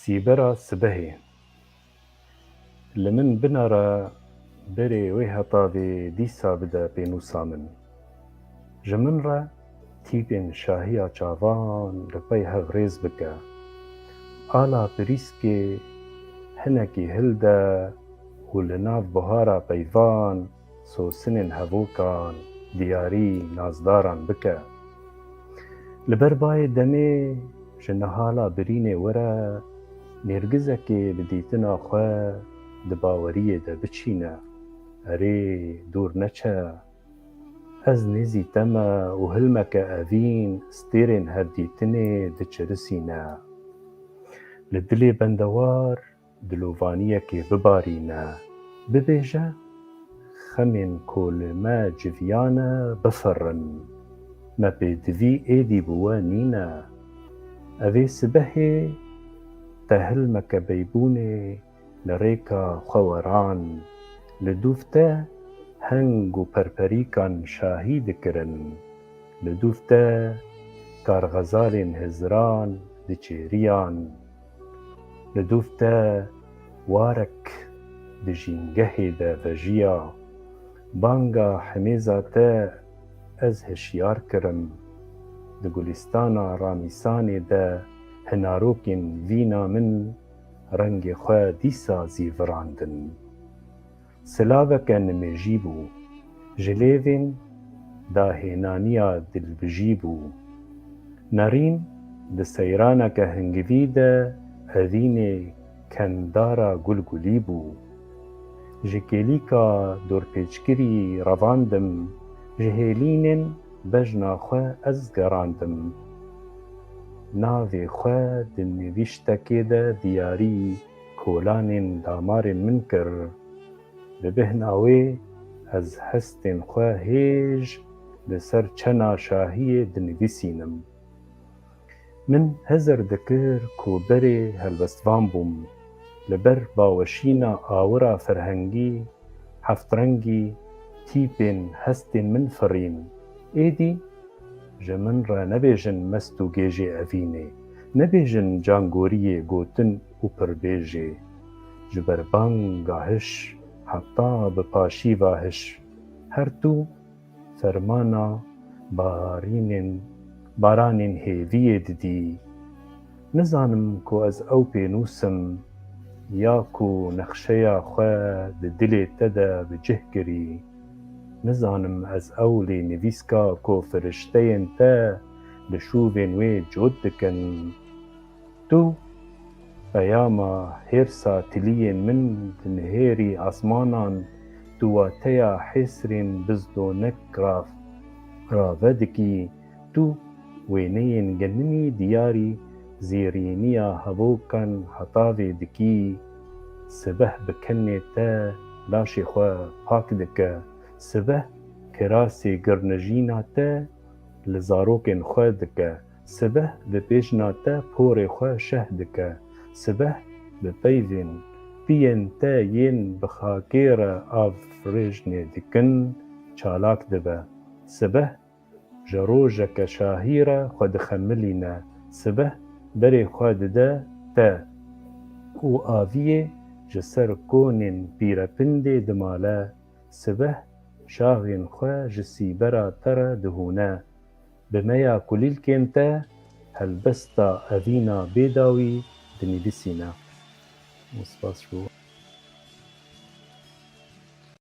Sîbera sibehê li min bina re berê wê heta vê dîsa bide pênûsa min. Ji min re tîpên şahiya çavan li pey hev rêz bike. Ala pirîskê hinekî hilde û li nav buhara peyvan, Sosinên hevokan diyarî nazdaran bike. Li ber bayê demê ji nihala birînê were nêrgizekê bi dîtina xwe di baweriyê de biçîne. Erê dûr neçe. Ez nêzî te me û hilmeke evîn stêrên hevdîtinê diçirisîne. Li dilê bendewar Dilovaniyekê bibarîne, bibêje, Xemên ku li me civiyane bifirin. Me pêdivî êdî bi we nîne. Ev ê sibehê tehil mekebeybûnê li rêka xweweran, li dûv te heng û perperîkan şahî dikirin. Li dûv te karxezalên hizran diçêriyan. Li dûv te warek di jîngehê de vejiya, banga hemêza te ez hişyar kirim. Di gulîstana Ramîsanê de hinarokên vîna min rengê xwe dîsa zî virandin. Silaveke nimêjî bû. Ji lêvên dahênaniya dilbijî bû. Nerîn di seyraneke hingivî de hevînê kenddara gulgulî bû. Ji kêlîka dorpêçkirî revandim, ji hêlînên bejna xwe ez gerandim. Navê xwe di nivîştekê de diyarî. Kolanên damarên min kir. Bi bêhna wê ez hestên xwe hêj li ser çena şahiyê dinivîsînim. Min hezir dikir ku berê helwestvan bûm. Li ber baweşîna awira ferhengî, heftrengî, tîpên hestên min firîn. Êdî ji min re nebêjin mest û gêjê evînê. Nebêjin cangoriyê gotin. û pirbêjê, ji ber banga hiş heta bi paşîva hiş her tu fermana baharînên baranên hêviyê didî. Nizanim ku ez ew pênûsim ya ku nexşeya xwe di dilê te de bi cih kirî. Nizanim ez ew lê nivîska ku firişteyên te li şûvên wê cot dikin. Tu peyama hêrsa tiliyên min dinihêrî esmanan, tu wateya hêsrên bizdonek rave dikî, tu wêneyên geninî diyarî zêrîniya hevokan hetavê dikî, sibeh bi kenê te laşê xwe pak dike, sibeh kirasê girnijîna te li zarokên xwe dike. Sibeh di pêşna te porê xwe şeh dike. Sibeh bi peyvên piyên te yên bi xakê re avrêjnê dikin çalak dibe. Sibeh ji rojeke şahî re xwe dixemilîne. Sibeh berê xwe dide te û aviyê ji ser konên Pîrepindê dimale. Sibeh şaxên xwe ji sîbera te re dihûne. Bi meya kulîlkên te helbesta evîna bê dawî dinivîsîne. Spas ji bo.